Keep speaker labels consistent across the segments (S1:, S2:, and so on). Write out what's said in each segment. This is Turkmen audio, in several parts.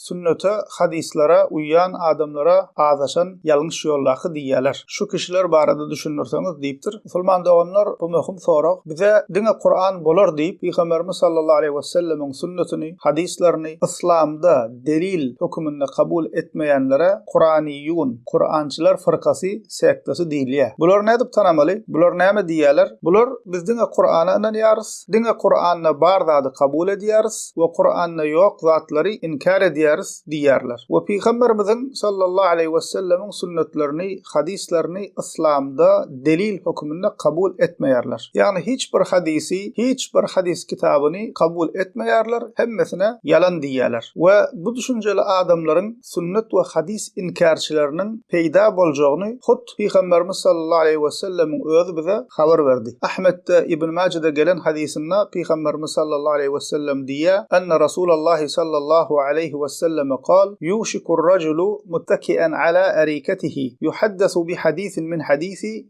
S1: Sünnete, hadyslara uýýan adamlara azaşan ýalňyş ýoldaky diýýärler. Şu kişiler barada düşündirseňiz diýipdir. Musulman doganlar, bu möhüm sorag. Bize diňe Kuran bolar diýip, Pygamberimiz sallallahu aleýhi wesellemiň sünnetini, hadyslaryny yslamda delil höküminde kabul etmeýänlere Kuraniýun, Kurançylar fyrkasy, sektasi, diýilýär. Bulary nädip tanamaly? Bular näme diýýärler? Bular, Biz diňe Kurana ynanýarys. diňe Kuranda bar zady kabul edýäris we Kuranda ýok zatlary inkär edýäris diýýärler we Pygamberimiziň sallallahu aleýhi wesellemiň sünnetlerini, hadyslaryny yslamda delil höküminde kabul etmeýärler. Ýagny hiç bir hadysy, hiç bir hadys kitabyny kabul etmeýärler, hemmesine ýalan diýýäler we bu düşünjeli adamlaryň, sünnet we hadys inkärçileriniň peýda boljagyny hut Pygamberimiz sallallahu aleýhi wesellemiň özi bize habar berdi. Ahmetde, Ibn Majede gelen hadysynda Pygamberimiz sallallahu aleýhi wesellem diýýär, Enne Rasulallahi sallallahu aleýhi weselleme kal, Ýuşikur-rajulu muttaki'en ala arikatihi, ýuhaddasu bi hadisin min hadisi,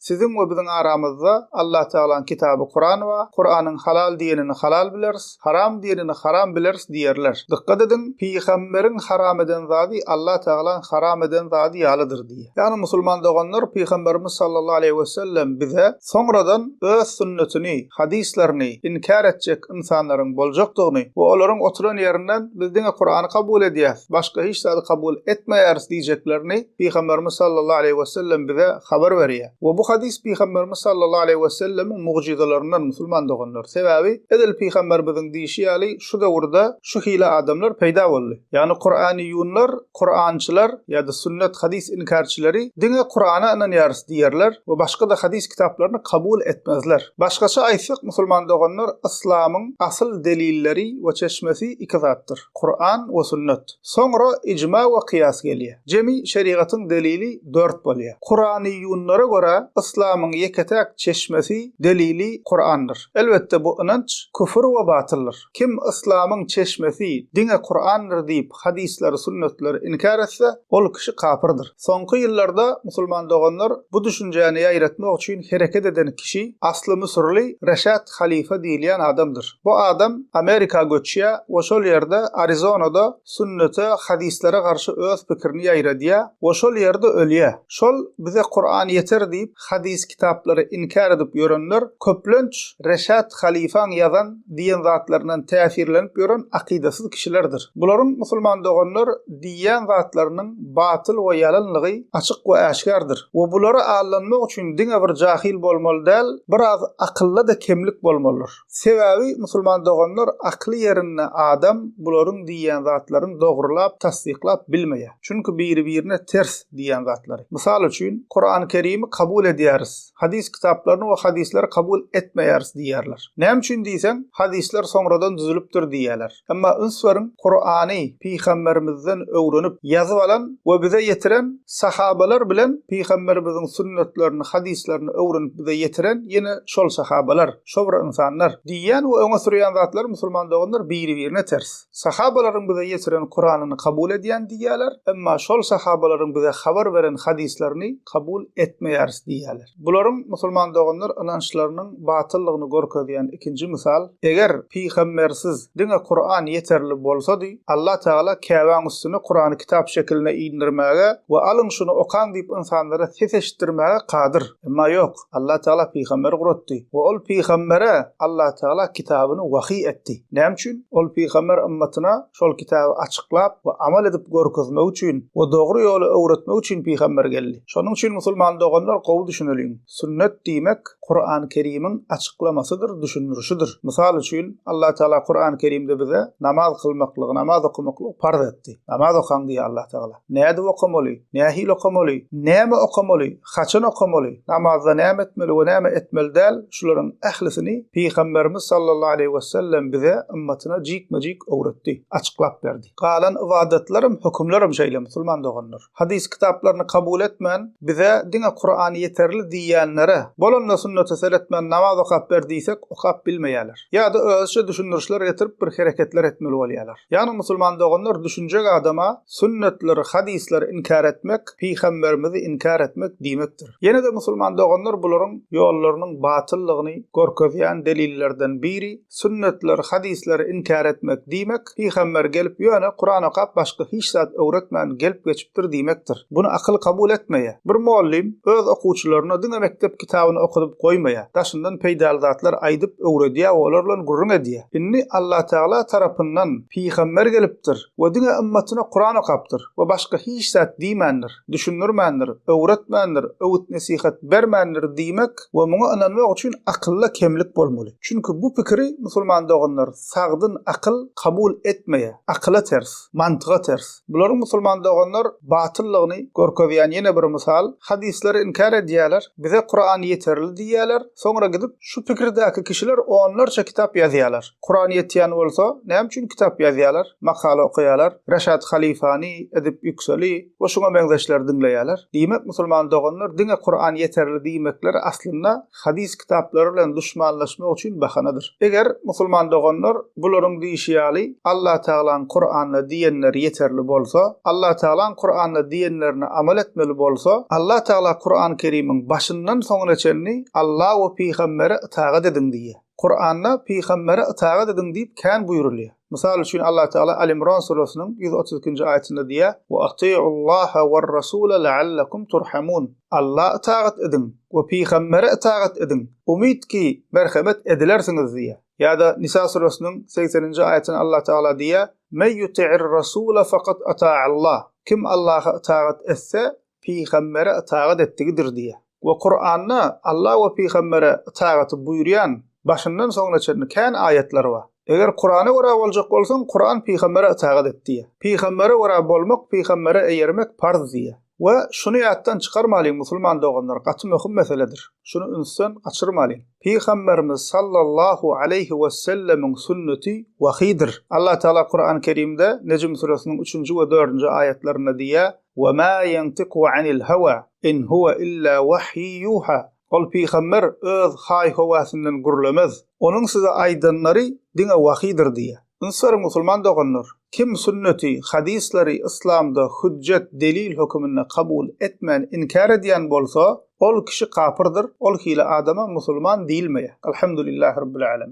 S1: Siziň we biziň aramyzda Allatagalaň kitaby Kuran bar, Kuranyň halal diýenini halal bileris, haram diýenini haram bileris diýerler. Dykgat ediň, Pygamberiň haram eden zady Allatagalaň haram eden zady ýalydyr diýýär. Ýagny musulman doganlar Pygamberimiz sallallahu aleýhi wesellem bize soňradan öz sünnetini, hadyslaryny, inkär etjek ynsanlaryň boljakdygyny we olaryň oturan ýerinden biz diňe Kurany kabul edýäris, başga hiç zady kabul etmeýäris diýjeklerini Pygamberimiz sallallahu aleýhi we sellem bize habar berýär. We bu hadys Pygamberimiz sallallahu aleýhi we sellemiň mugjyzalaryndan musulman doganlar. Sebäbi, edil Pygamberimiziň diýşi ýaly şu döwürde şu hili adamlar peýda boldy. Ýagny Kur'aniyunlar, Kur'ançylar ýa-da sünnet hadys inkärçileri diňe Kur'ana ynanýarys diýerler we başga-da hadys kitaplaryny kabul etmezler. Başgaça aýtsak musulman doganlar Yslamyň asyl delilleri we çeşmesi iki zatdyr. Kuran we Sünnet. Soňra ijma we kyýas gelýär. Jemi şerigatyň delili dört bolýar. Kuranyýunlara görä, yslamyň ýeke-täk çeşmesi, delili Kurandyr. Elbetde bu ynanç küfür we batyldyr. Kim yslamyň çeşmesi diňe Kurandyr diýip, hadyslary, sünnetleri inkär etse, ol kişi kapyrdyr. Soňky ýyllarda musulman doganlar bu düşünjäni ýaýratmak üçin hereket eden kişi asly müsürli Reşat Halifa diýilýän adamdyr. Bu adam Amerika göçýär we şol ýerde Arizonada sünnete, hadyslere garşy öz pikirini ýaýradýar we şol ýerde ölýär. Şol bize Kuran ýeter diýip, hadys kitaplary inkär edip ýörenler köplenç Reşat halyfaň ýazan diýen zatlaryndan täsirlenip ýören akydasyz kişilerdir. Bularyň musulman doganlar diýýän zatlarynyň batyl we ýalanlygy açyk we äşgärdir. We bulara aldanmak üçin diňe bir jahyl bolmaly däl, biraz akylda-da kemlik bolmalydyr. Sebäbi musulman doganlar akly ýerinde adam bularyň diýýän zatlaryny dogrylap, tassyklap bilmeýär. Çünki biri-birine ters diýýän zatlary. Mysal üçin, Kurany Kerimi kabul edýäris, hadys kitaplaryny we hadysleri kabul etmeýäris diýýärler. Näme üçin diýseň, hadyslar soňradan düzülipdir diýýärler. Emma üns beriň, Kurany pygamberimizden öwrenip, ýazyp alan we bize ýetiren sahabalar bilen pygamberimiziň sünnetlerini, hadyslaryny öwrenip bize ýetiren ýene şol sahabalar, şo bir ynsanlar. Diýýän we öňe sürýän zatlar musulman doganlar biri-birine ters. Sahabalaryň bize ýetiren Kuranyny kabul edýän diýýäler, emma şol sahabalaryň bize habar beren hadyslaryny kabul etmeýäris diýýäler. Bularyň musulman doganlar ynançlarynyň batyllygyny görkezýän ikinji mysal, eger pygambersiz diňe Kuran ýeterli bolsady, Allah Tagala Käbäň üstüne Kurany kitap şekilinde indirmäge we alyň şuny okaň diýip ynsanlara ses eşitdirmäge kadyr. Emma ýok, Allah Tagala pygamber guratdy we ol pygambere Allah Tagala kitabyny wahyý etdi. Näme üçin? Ol pygamber ymmatyna şol kitaby açyklap we amal edip görkezmek üçin we dogry ýoly öwretmek üçin pygamber geldi. Şonuň üçin musulman doganlar gowy düşüneliň, sünnet diýmek Kurany Kerimiň açyklamasydyr, düşündirişidir. Mysal üçin Allah Tagala Kurany Kerimde bize namaz kylmaklygy, namaz okamaklygy parz etdi. Namaz okaň diýýär Allah Tagala. Nädip okamaly? Nähili okamaly? Näme okamaly? Haçan okamaly, namazda näme etmeli we näme etmeli däl, şularyň ählisini Pygamberimiz sallallahu aleýhi wesellem bize, ymmatyna jikme-jik öwretdi, açyklap berdi. Galan ybadatlarym, hökümlerem şeýle, musulman doganlar. Hadys kitaplaryny kabul etmän, bize diňe Kuran ýeterli diýýänlere, bolanda sünnete seretmän namaz okap ber diýsek, okap bilmeýärler. Ýa-da özüçe düşündirişler getirip bir hereketler etmeli bolýarlar. Ýagny musulman doganlar düşünjek adama sünnetleri, hadysleri inkär etmek, pygamberimizi inkär etmek diýmekdir. Ýene-de musulman doganlar bularyň ýollarynyň batyllygyny görkezýän delillerden biri, sünnetleri, hadysleri inkär etmek diýmek, pygamber gelip ýöne Kuran okap başga hiç zat öwretmän gelip geçipdir. ýetişdiripdir diýmekdir. Buny akyl kabul etmeýär. Bir mollym öz okuwçylaryna diňe mekdep kitabyny okadyp goýmaýar, daşyndan peýdaly zatlar aýdyp öwredýär we olar bilen gürrüň edýär. Indi Allatagala tarapyndan pygamber gelipdir we diňe ymmatyna Kuran okapdyr we başga hiç zat diýmändir, düşündirmändir, öwretmändir, öwüt-nesihat bermändir diýmek we muňa ynanmak üçin akylda kemlik bolmaly. Çünki bu pikiri, musulman doganlar, sagdyn akyl kabul etmeýär. Akyla ters. Mantyga ters. Bularyň musulman doganlar batyllygyny görkezýän ýene bir mysal, hadyslary inkär edýärler, bize Kuran ýeterli diýýärler, soňra gidip şu pikirdäki kişiler onlarça kitap ýazýarlar. Kuran ýetýän bolsa, näme üçin kitap ýazýarlar, makala okaýarlar, Reşad Halifany, Edip Ýükseli we şuňa meňzeşleri diňleýärler? Diýmek musulman doganlar diňe Kuran ýeterli diýmekleri aslynda hadys kitaplary bilen duşmanlaşmak üçin bahanadyr. Eger, musulman doganlar, bularyň diýşi ýaly, Allatagalaň Kuranda diýenleri ýeterli bolsa, Allatagalaň Kuranda diýenlerine amal etmeli bolsa, Allatagala Kuran Kerimiň başyndan soňuna çenli Alla we Pygambere ytagat ediň diýýär. Kuranda Pygambere ytagat ediň diýip kän buýrulýar. Mysal üçin, Allatagala Al-Imron surasynyň ýüz otuz ikinji aýatynda diýýär, Wa atiullaha war rasula la'allakum turhamun, Alla ytagat ediň we pygambere ytagat ediň, umyt ki, merhemet edilersiňiz diýýär. Ýa-da Nisa surasynyň segseninji aýatynda Allatagala diýýär, Mey ýuti'ir rasula fakat ata'allah, Kim Allaha ytagat etse, pygambere ytagat etdigidir diýýär. We Kuranda Alla we pygambere ytagaty buýurýan başyndan soňuna çenli kän aýatlar bar. Eger Kurana görä boljak bolsaň, Kuran pygambere ytagat et diýýär. Pygambere görä bolmak, pygambere eýermek parz diýýär. We şuny ýatdan çykarmalyň musulman doganlar, gaty möhüm meseledir. Şuny ünsden gaçyrmalyň. Pygamberimiz sallallahu aleýhi wesellemiň sünneti wahyýdir. Alla Taala Kurany Kerimde Nejm süresiniň üçünji we dördünji aýatlarynda diýýär, We ma ýantiku anil hawa in huwa illa wahyi yuha, Ol pygamber öz haý-howasyndan gürlemez, onuň size aýdanlary diňe wahydyr diýýär. Ynsaryň musulman doganlar, kim sünneti, hadyslary yslamda hüjjet, delil höküminde kabul etmän inkär edýän bolsa, ol kişi kapyrdyr, ol hili adama musulman diýilmeýär. Alhamdulillah Rabbil Alamin.